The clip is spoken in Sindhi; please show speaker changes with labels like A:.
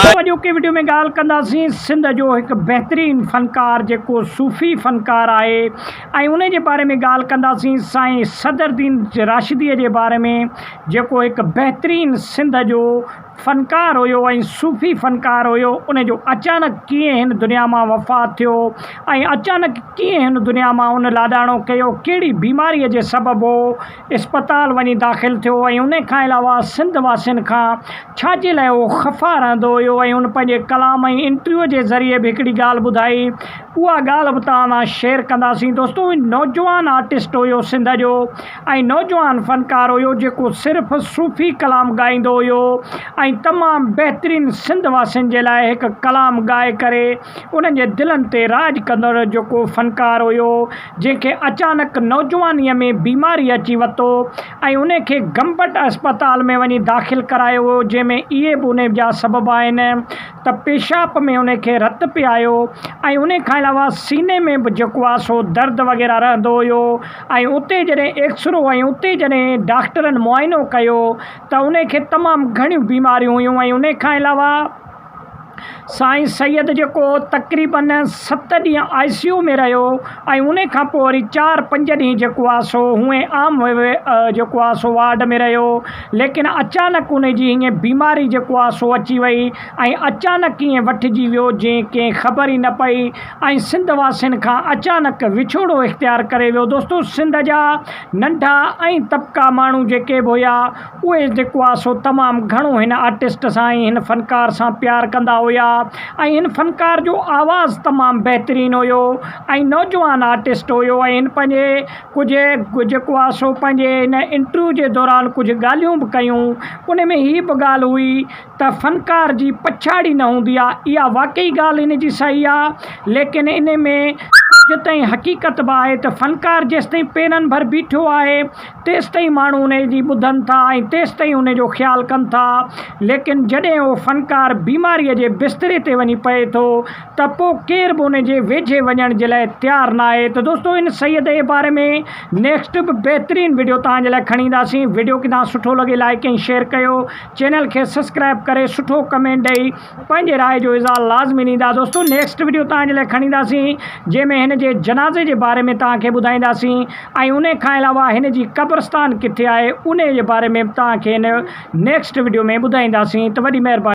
A: سو اڄوڪي وڊيو ۾
B: ڳالهه ڪنداسين سنڌ جو هڪ بهترين فنڪار جيڪو صوفي فنڪار آهي ۽ انهي جي باري ۾ ڳالهه ڪنداسين سائين صدر الدين راشدي جي باري ۾ جيڪو هڪ بهترين سنڌ جو فنڪار هيو ۽ صوفي فنڪار هيو ان جو اچانڪ ڪيئن هن دنيا مان وفات ٿيو ۽ اچانڪ ڪيئن هن دنيا مان ان لاڏاڻو ڪيو ڪهڙي بيماري جي سبب هو اسپتال وڃي داخل ٿيو ۽ ان کان علاوه سنڌ واسين کان ڇاجي لاء هو خفا رهندو هيو ۽ هن پنهنجي ڪلام ۽ انٽرويو جي ذريعي به هڪڙي ڳالهه ٻڌائي اها ڳالهه به توهان سان شيئر ڪنداسين دوستو هي نوجوان آرٽسٽ هيو سنڌ جو ۽ نوجوان فنڪار هيو جيڪو صرف صوفي ڪلام ڳائيندو هيو ۽ تمام بهترين سنڌ واسين جي لاء هڪ ڪلام ڳائي ڪري انهن جي دلن تي راڄ ڪندڙ جيڪو فنڪار هيو جنهن کي اچانڪ نوجوانيء ۾ بيماري اچي وتو ۽ انهي کي گمبٽ اسپتال ۾ وڃي داخل ڪرايو ويو جنهن ۾ اهي به انهي جا سبب آهن ته پيشاب ۾ انهي کي رت پيايو ۽ انهي کان علاوه سيني ۾ به جيڪو آهي سو درد وغيره رهندو هيو ۽ اتي جڏهن ايڪسرو ۽ اتي جڏهن ڊاڪٽرن معائنو ڪيو ته ان کي تمام گهڻيون بيماريون هيون ۽ ان کان علاوه سائين سيد جيڪو تقريباً ست ڏينهن آء سي يو ۾ رهيو ۽ ان کان پوء وري چار پنج ڏينهن جيڪو آهي سو هونئن عام جيڪو آهي سو وارڊ ۾ رهيو ليڪن اچانڪ ان جي هيئن بيماري جيڪو آهي سو اچي وئي ۽ اچانڪ ائين وٺجي ويو جئين ڪنهن خبر ئي نه پئي ۽ سنڌ واسين کان اچانڪ وڇوڙو اختيار ڪري ويو دوستو سنڌ جا ننڍا ۽ طبقا ماڻهو جيڪي به هيا اهي جيڪو آ سو تمام گهڻو هن آرٽسٽ سان ۽ هن فنڪار سان پيار ڪندا هيا ۽ هن فنڪار جو آواز تمام بهترين هيو ۽ نوجوان آرٽسٽ هيو ۽ هن پنهنجي ڪجهه جيڪو آ سو پنهنجي هن انٽرويو جي دوران ڪجهه ڳالهيون به ڪيون ان ۾ هي به ڳالهه هئي ته فنڪار جي پڇاڙي نه هوندي آهي، اها واقعي ڳالهه ان جي صحيح آهي، ليڪن ان ۾ ڪجهه تائين حقيقت به آهي ته فنڪار جيستائين پيرن ڀر بيٺو آهي، تيستائين ماڻهو ان جي ٻڌن ٿا ۽ تيستائين ان جو خيال ڪن ٿا، ليڪن جڏهن اهو فنڪار بيماريء جي بستري تي وڃي پئي ٿو ته پوء ڪير به ان جي ويجهي وڃڻ جي لاء تيار ناهي ته دوستو ان سيد جي باري ۾ نيڪسٽ به بهترين وڊيو توهان جي لاء کڻي اينداسين، وڊيو ڪي توهان سٺو لڳي لائڪ ۽ شيئر ڪيو. چينل کي سسڪرائب ڪري سٺو ڪمينٽ ڏئي پنهنجي راء جو اظهار لازمي ڏيندا دوستو نيڪسٽ وڊيو توهان جي لاء کڻي اينداسين جنهن ۾ هن جي جنازي جي باري ۾ توهان کي ٻڌائينداسين ۽ ان کان علاوه هن جي قبرستان ڪٿي آهي انهي جي باري ۾ به توهان کي هن نيڪسٽ وڊيو ۾ ٻڌائينداسين ته وڏي مهرباني